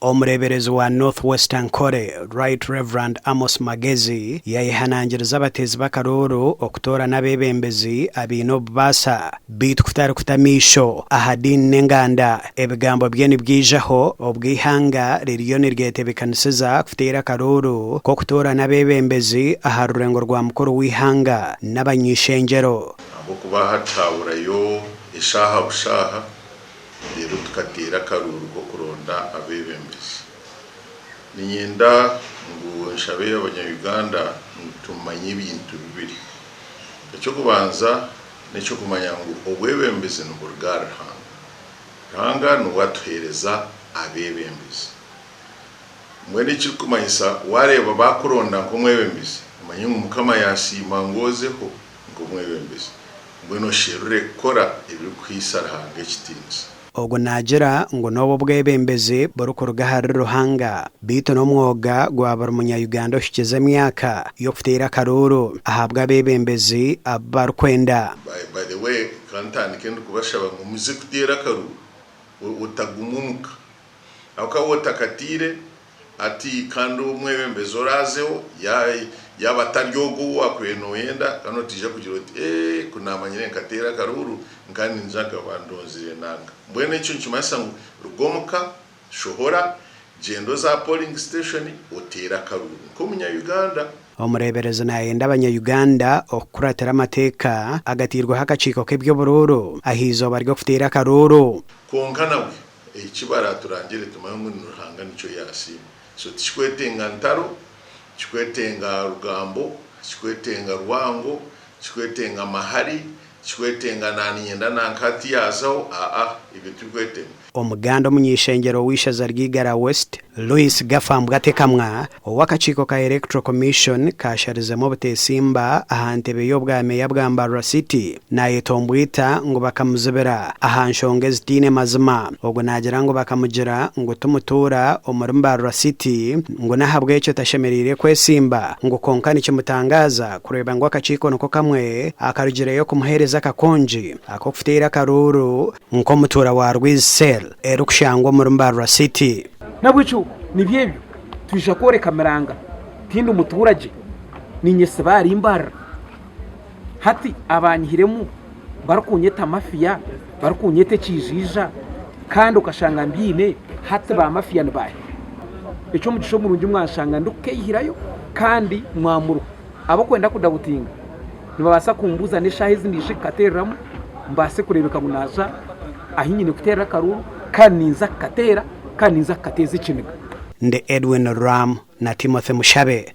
Omureeberezi wa North Western Kore, Right Rev. Amos Magezi, yaayehanangiriza abateezi b'akarooro okutoorana abeebembezi abaine obubaasa. Beitu kutarikuta amaisho aha diini n'enganda, ebigambo bye nibyaijaho obwo eihanga ririyo niryetebekanisiza kuteera akarooro k'okutoorana abeebembezi aha rurengo rwa mukuru w'eihanga n'abany'eishengyero. Ahabw'okuba hati haaburayo eshaaha bushaaha reero tukateera akaruuru k'okuronda abeebembezi. Niinyenda ngu nshabe Abanya-Uganda ngu tumanye ebintu bibiri. Eky'okubanza n'eky'okumanya ngu obwebembezi niburuga ahari Ruhanga. Ruhanga niwe atuheereza abeebembezi. Mbwenu ekirikumanyisa waareeba baakuronda nk'omwebembezi, omanye ngu Mukama yaasiima ngu ozeho. nk'omwebembezi, mbwenu osherure kukora ebirikuhaisa Ruhanga ekitiinisa. Ogu naagira ngu n'obu obwebembezi burikuruga ahari Ruhanga, beitu n'omwoga gwa buri munya-Uganda ohikize emyaka y'okuteera akaruuru ahabwa abebembezi abu barikwenda. By the way, kantandike ndikubashaba ngu muze kuteera akaruuru, otaguma omuka, Ahakuba we takatiire ati kandi omwebembezi oraazeho yaaba atari ogwo ou wakubaire nooyenda, kandi otaija kugira oti, Ee, ku naamanyire nkateera akaruuru nkaba niingira ngu abandonzire nanga. Mbwenu ekyo nikimanyisa ngu ruga omu ka, shohora, gyenda oze aha polling station oteere akaruuru nk'Omunya-Uganda. Omureeberezi naayenda Abanya-Uganda okukuratira amateeka agatairweho akakiiko k'eby'oburuuru aha eizooba ry'okuteera akaruuru. Kwonka nabwe, Eki baraturangire tumanye ngu ni Ruhanga nikyo yaasiima. So tikikwetenga ntaro, tikikwetenga rugambo, tikikwetenga rwango, tikikwetenga mahari, tikikwetenga naaniinyenda nanka hati yaazaho, aa, ebyo tibikwetenga. Omuganda omuny'eishengyero w'eishaza ry'Igara West, Louis Gafambwa Tekamwa ow'akakiiko ka Electoral Commission kaasharizemu obuteesimba aha ntebe y'obwa meeya bwa Mbarara City naayeta ombwita ngu bakamuzibira aha nshonga ezitaine mazima. Ogwo naagira ngu bakamugira ngu ti mutuura omuri Mbarara City ngu n'ahabw'ekyo tashemereire kwetsimba ngu kwonka nikimutangaaza kureeba ngu akakiiko niko kamwe akarugireyo kumuheereza akakongi ak'okufutaira akaruuru nk'omutuura wa Rwizi Cell erikushangwa omuri Mbarara City. Nahabwekyo nibyo ebyo twija kworeka Miranga tindi muturagye ninyesiba ahari Mbarara hati abanyihiremu barikunyeta mafia barikunyeta ekiijiija kandi okashanga mbyine hati ba mafia nibaahi? Ekyomugisha omurungi mwanshanga ndikukeihirayo kandi mwamuruho abarikwenda kudabutinga Nibabaasa kumbuuza n'eshaaha ezi naija kukateereramu mbaase kureebeka ngu naaza ahi nyine kuteerera akaruuru kandi ninza kukateera kandi ninza kukateeza ekiniga. Ndi Edwin Ruramu na Timothy Mushabe.